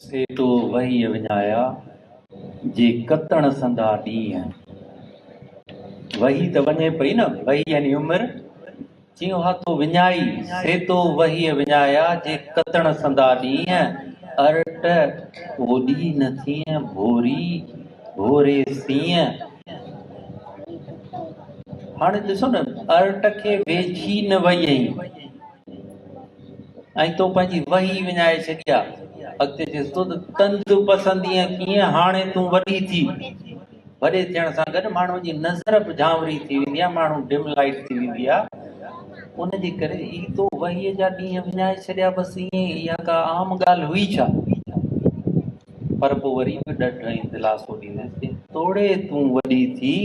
سي تو وهيء وڃايا، جي ڪتڻ سندا ڏينهن. وهي ته وڃي پئي نه، وهي يعني عمر، چيو ها تو وڃائي، سي تو وهيء وڃايا، جي ڪتڻ سندا ڏينهن. ارٽ اوڏي نه ٿينء، ڀوري ڀوري سينء. هاڻي ڏسو نه، ارٽ کي ويجهي نه ويئي. ۽ تو پنهنجي وهي وڃائي ڇڏي آ. اڳتي چيس ٿو ته تند پسندينء ڪيئن هاڻي تون وڏي ٿي. وڏي ٿيڻ سان گڏ ماڻهو جي نظر به جهانوري ٿي ويندي آ، ماڻهو ڊم لائيٽ ٿي ويندي آ. ان جي ڪري هي تو وهيء جا ڏينهن وڃائي ڇڏيا بس ائين ئي اها ڪا عام ڳالهه هئي ڇا؟ پر پوء وري به ڏڍ ۽ دلاسو ڏينديس ته توڙي تون وڏي ٿي،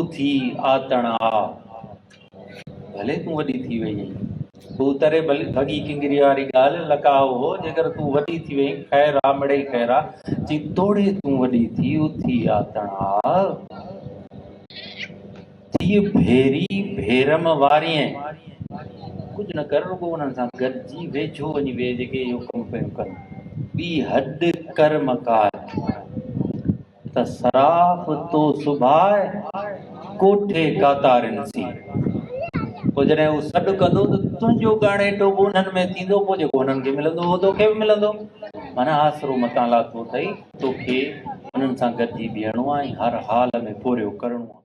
اٿي آتڻ آ. ڀلي تون وڏي ٿي وئي اهين. هو تري ڀڳي ڪنگريء واري ڳالهه لڪاء هو، جيڪر تون وڏي ٿي وئي اهين، خير آ مڙئي خير آ، جي توڙي تون وڏي ٿي اٿي آ تڻ آ. ٿيء ڀيري ڀيرم وارينء، ڪجهه نه ڪر رڳو انهن سان گڏجي ويجهو وڃي ويهه جيڪي اهو ڪم پيون ڪن، ٻي هڏ ڪر مڪار. ته صراف تو سڀائي ڪوٺي ڪاتارين سين. پوء جڏهن هو سڏ ڪندو ته تنهنجو ڳاڻيٽو به انهن ۾ ٿيندو، پوء جيڪو انهن کي ملندو اهو توکي به ملندو. معنيٰ آسرو متان لاٿو اٿئي، توکي انهن سان گڏجي بيهڻو آهي ۽ هر حال ۾ پورهيو ڪرڻو آهي.